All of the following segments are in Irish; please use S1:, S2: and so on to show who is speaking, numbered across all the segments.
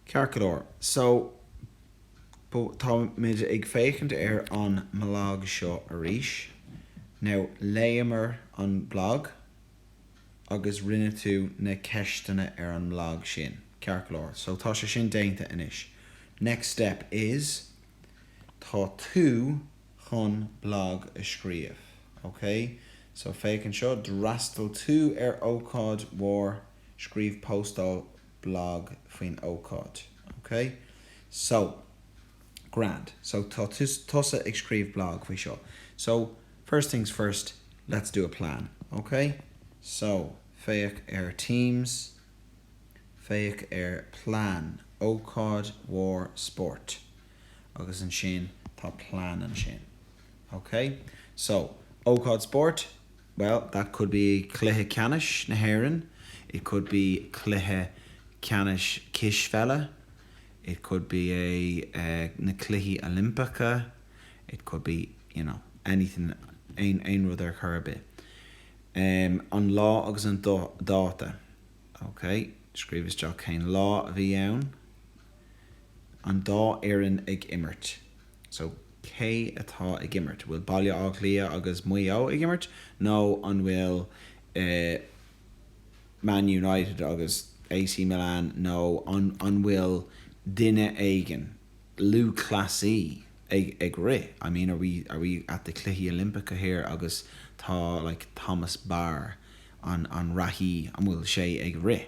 S1: Ceart go leor, so, tá muid ag féachaint ar an mblag seo arís. Now, léamar an blag agus rinne tú na ceisteanna ar an mblag sin. Ceart go leor, so, tá sé sin déanta anois. Next step is, tá tú. chun blag a scríobh. OK? So, féach anseo, d'fhreastail tú ar ócáid mhór, scríobh postáil bhlag faoin ócáid. OK? So, grand. So, tá tusa ag scríobh blag faoi seo. So, first things first, let's do a plan. OK? So, féach ar Teams, féach ar Plan, ócáid mhór spóirt. agus ansin tá plean ansin. Ok? So, ócáid spóirt, bhuel, that could be cluiche ceannais na hÉireann, it could be cluiche ceannais cispheile, it could be na cluichí Oilimpeacha, it could be, you know, anything, aon rud ar chor ar bith. An lá agus an dáta. Ok? Scríobh isteach cén lá a bhí ann. an dá fhoireann ag imirt. So, cé atá ag imirt? Bhfuil Baile Átha Cliath agus Maigh Eo ag imirt nó an bhfuil Man United agus AC Milan nó an bhfuil duine éigin lúthchleasaí ag rith? I mean, are we, are we at the Cluichí Oilimpeacha here agus tá like Thomas Barr, an reathaí, an bhfuil sé ag rith?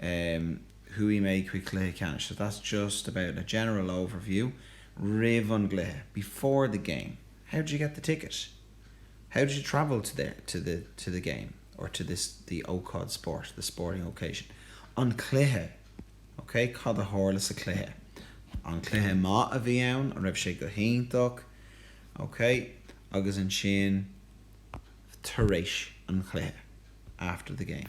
S1: em chuaigh mé chuig cluiche ceannais so that's just about a general overview roimh an gcluiche before the game how did you get the ticket? how did you travel to there to the to the game or to this the ócáid spóirt the sporting occasion an cluiche ok cad a tharla sa chluiche an cluiche maith a bhí ann an raibh sé go hiontach ok agus ansin tar éis an chluiche after the game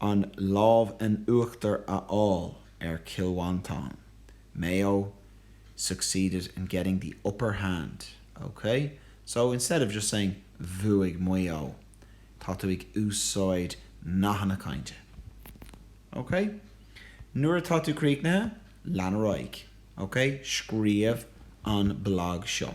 S1: an lámh in uachtar a fháil ar Chill Mhantáin, Mayo succeeded in getting the upper hand, OK? So, instead of just saying Bhuaigh Maigh Eo, tá tú ag úsáid nathanna cainte. OK? Nuair atá tú críochnaithe, lean ar aghaidh. OK? Scríobh an blag seo.